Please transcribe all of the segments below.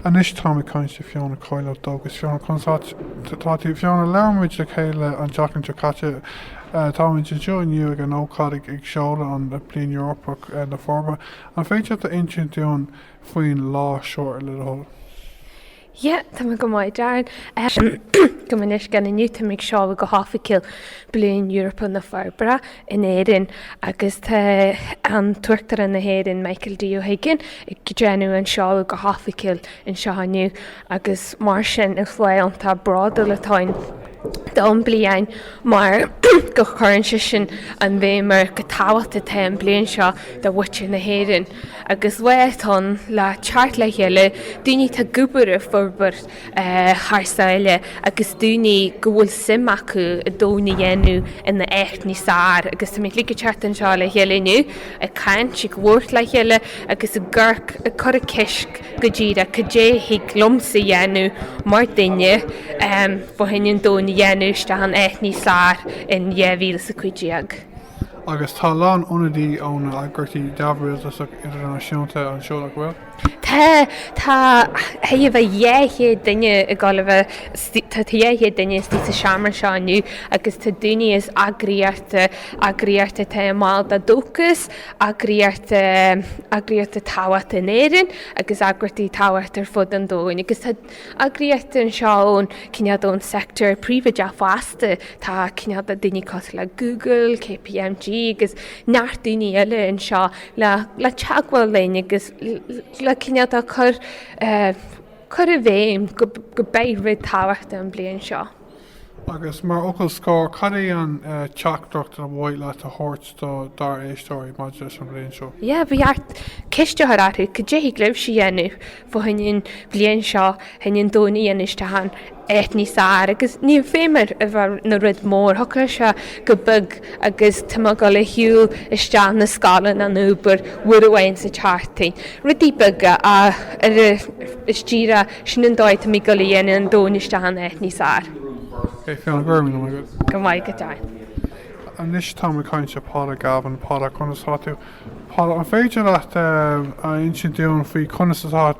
Anois táim ag caint le Fiona Coyle ó Dóchas. Fiona, conas atá tú? Fiona, labhair muid le chéile an tseachtain seo caite. Táimid anseo inniu ag an ócáid ag seoladh an Bliain Eorpach na Forbartha. An féidir leat a insint dúinn faoin lá seo le do thoil? Yeah, tá mé go maith, Darren. Um, go bunúsach inniu táimid ag seoladh go hoifigiúil Bliain Eorpach na Forbartha. in Éirinn agus tá an tUachtarán na hÉireann Michael D Ó hUiginn ag déanamh an seoladh go hoifigiúil anseo inniu agus mar sin is lá iontach bródúil atá ann don bliain mar go cuireann sé sin an bhéim ar chomh tábhachtach atá an bliain seo do mhuintir na hÉireann agus lá atá ann le teacht le chéile daoine atá ag obair i forbairt thar sáile agus daoine go bhfuil suim acu an domhan a dhéanamh ina áit níos fearr agus táimid uilig ag teacht anseo le chéile inniu ag caint, ag labhairt le chéile agus ag cur ceist go díreach cad é a thig liomsa a dhéanamh mar duine fá choinne an domhan a dhéanamh isteach in áit níos fearr in 2015. Agus tá a lán ionadaí ón eagraíochtaí neamhrialtasach idirnáisiúnta anseo nach bhfuil? Tá, tá, thar dhá chéad duine ag dul a bheith, tá dhá chéad duine istigh sa seomra seo inniu agus tá daoine as eagraíochta, eagraíochta atá ina mball de Dóchas, eagraíochta, eagraíochta tábhachtach in Éirinn agus eagraíochtaí tábhachtach ar fud an domhain agus tá eagraíochta anseo ón, cineál de, ón sector príobháideach fosta, tá cineál de daoine cosúil le Google, KPMG agus neart daoine eile anseo. le teagmháil linne agus le cineál de chur cur i bhfeidhm gurb é rud tábhachtach an bliain seo. Agus mar fhocal scor, cad é an teachtaireacht ar mhaith leat a thabhairt do dár éisteoirí maidir leis an bhliain seo? Yeah, ba cheart ceist a chur orthu cad é a thig libhse a dhéanamh fá choinne an bhliain seo, fá choinne an domhan a dhéanamh isteach in. áit níos fearr agus níl feidhm air a bheith ina rud mór thiocfadh sé go beag agus tá mé dul a shiúl isteach na scoile nó an obair uair amháin sa tseachtain. Rudaí beaga ach is díreach sin an dóigh tá muid ag dul a dhéanamh an domhan isteach in áit níos fearr. Fiona, go raibh míle maith agat. Go raibh maith agat, Darren. Anois táim ag caint le Paula Galvin. Paula, conas atá tú? Paula, an féidir leat a insint dúinn faoi conas atá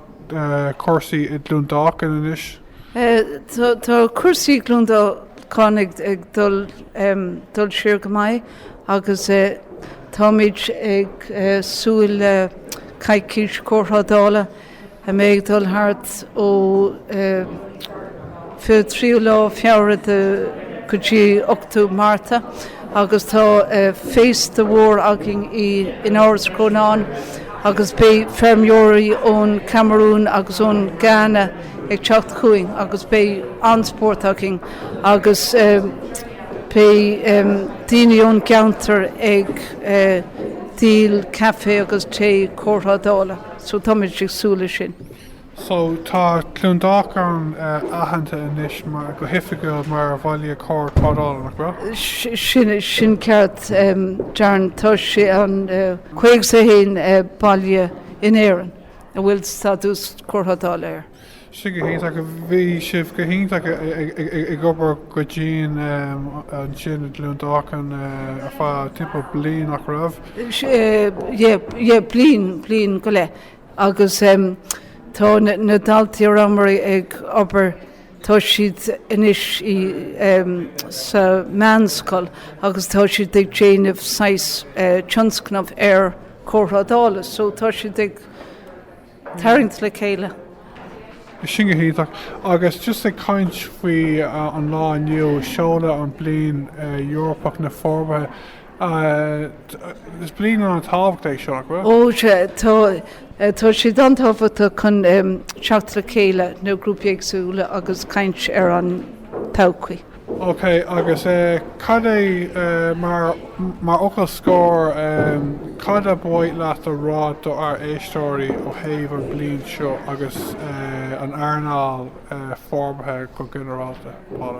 cúrsaí i gCluain Dolcáin anois? Tá cúrsaí Cluain Dolcáin ag dul ar aghaidh go maith agus táimid ag súil le coicís Cóirthrádála a mbeidh ag dul thart ó 23ú lá Feabhra go dtí 8ú Márta agus tá féasta mór againn in Áras Chrónáin agus beidh feirmeoirí ón Camarún agus ón Ghana ag teacht chugainn agus beidh an-spórt againn agus beidh daoine ón gceantar ag díol caife agus tae, cóirthrádála, so táimid ag súil leis sin. So tá Cluain Dolcáin aitheanta anois go hoifigiúil mar Bhaile Cóirthrádála, nach bhfuil? Sin, sin ceart Darren, tá sé an 51ú baile in Éirinn. a bhfuil stádas cóirthrádála air. Sin go hiontach. Bhí sibh go hiontach ag obair go dian ansin i gCluain Dolcáin ar feadh timpeall bliain, nach raibh? Sea, bliain go leith. Agus tá na daltaí ar am ag obair Tá siad anois i em. sa mheánscoil agus tá siad ag déanamh saghas eh. tionscnamh ar cóirthrádála so tá siad ag tarraingt le chéile. Sin go hiontach. Agus just ag caint faoi an lá inniu, seoladh an Bliain Eorpach na Forbartha. Is bliain ana tábhacht é seo, nach bhfuil? Ó sea, tá, tá sé an-tábhachtach chun teacht le chéile na grúpaí éagsúla agus caint ar an todhchaí. Ok, agus cad é mar, mar fhocal scoir, cad a ba mhaith leat a rá do ár éisteoirí ó thaobh an bliain seo agus an earnáil forbartha go ginearálta, Paula?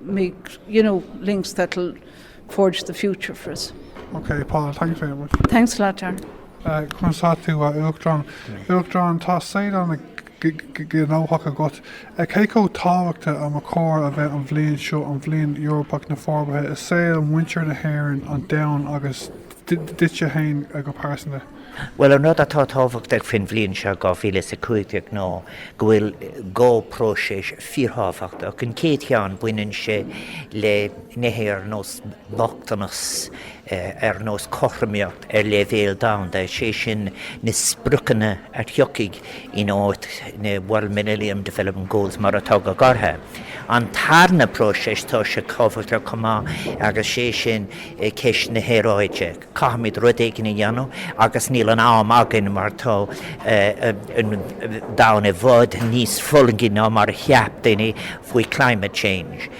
make you know links that will forge the future for us. Ok Paula, thanks very much. Thanks a lot Darren. Conas atá tú a Uachtarán? Uachtarán, tá saol an-ghnóthach agat. Cé chomh tábhachtach ab chóir a bheith an bhliain seo an Bhliain Eorpach na Forbartha i saol muintir na hÉireann, an domhan agus. duitse fhéin go pearsana. Bhuel, an rud atá tábhachtach faoin bhliain seo 2015 ná go bhfuil dhá próiseas fíorthábhachtach. An chéad cheann, baineann sé le nithe ar nós bochtanas, ar nós cothromaíocht ar leibhéal domhanda, is é sin na spriocanna a thiocfaidh in áit na World Millennium Development Goals mar atá á ghlaoch orthu. An tarna próiseas tá sé tábhachtach chomh maith agus is é sin, ceist na haeráide. Caithfimid rud éigin a dhéanamh agus níl an t-am againn mar tá an domhan i bhfad níos fulaingí ná mar a cheap daoine faoi climate change.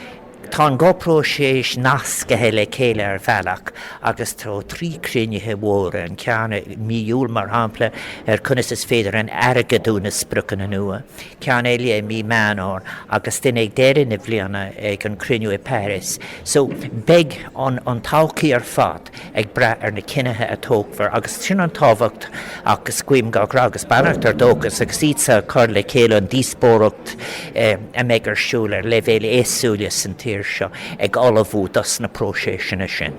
Tá an dhá próiseas nascaithe le chéile ar bhealach agus tá trí cruinnithe mhóra, an ceann i mí Iúil mar shampla ar conas is féidir airgeadú na spriocanna nua, ceann eile i mí Mheán Fómhair agus duine ag deireadh na bliana ag an cruinniú i Paris. So, beidh an todhchaí ar fad ag brath ar na cinnithe a tógfar agus sin an tábhacht agus guím gach rath agus beannacht ar Dóchas agus iad ag cur le chéile an díospóireacht a mbeidh ar siúl ar leibhéil éagsúla san tír seo ag ullmhú dos na próiséiseanna sin.